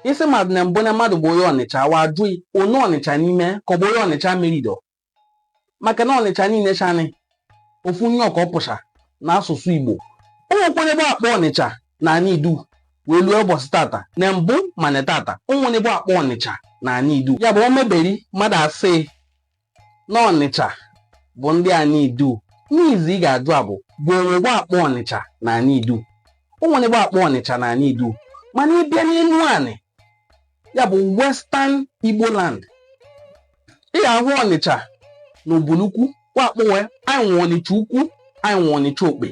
ị sị mmadụ na mbụ na mmadụ bụ onye ọnịcha wa ajụ gị onye ọnịcha n'ime ka ọ bụ onye ọnịcha merido maka na ọnịcha niile chanị ofu nye ọka ọpụcha na asụsụ igbo o nwekwane ebe a kpọ ọnịcha na anị idu wee lue ụbọsị tata na mbụ mana tata o nwene ebe a kpọ ọnịcha na anị idu ya bụ o meberi mmadụ asị na Ọnịcha bụ ndị anị Idu n'izu ị ga-ajụ a bụ bụ o nwe ebe wa kpọ Ọnịcha na anị Idu o nwene ebe wa kpọ Ọnịcha na anị Idu mana ị bịa n'Enuanị ya bụ Western Igbo land ị ga-ahụ Ọnịcha na Ubulu Ukwu wa akpọwe anyị nwe Ọnịcha ukwu anyị nwe Ọnịcha okpe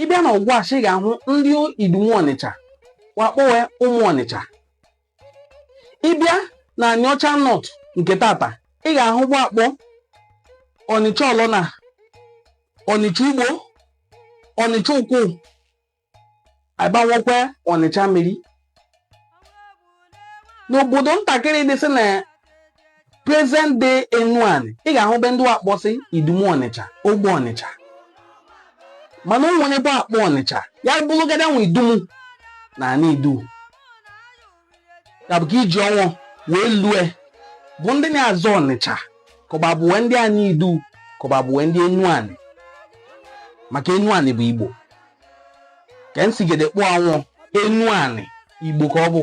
ị bịa na Ọgwashi ị ga-ahụ ndị Idumu Ọnịcha wa akpọwe ụmụ Ọnịcha ị bịa na anịọcha north nke tata ị ga-ahụ ebe wa kpọ ọnịcha ọlọna ọnịcha ugbo ọnịcha ukwu a bịa nwekwa ọnịcha mmiri n'obodo ntakịrị dịsị na present day enuani ị ga-ahụ ebe ndị wa kpọsị idumu ọnịcha ogbe ọnịcha mana o nwere ebe a kpọ ọnịcha ya bụrụgodu nwa idumu na anị idu ya bụ ka iji ọnwụ wee lue bụ ndị na-azọ ọnịcha kọba abụwe ndị anị idu kọba abụwe ndị enuani maka enuani bụ igbo ka nsigede kpụọ anwụ enuani igbo ka ọ bụ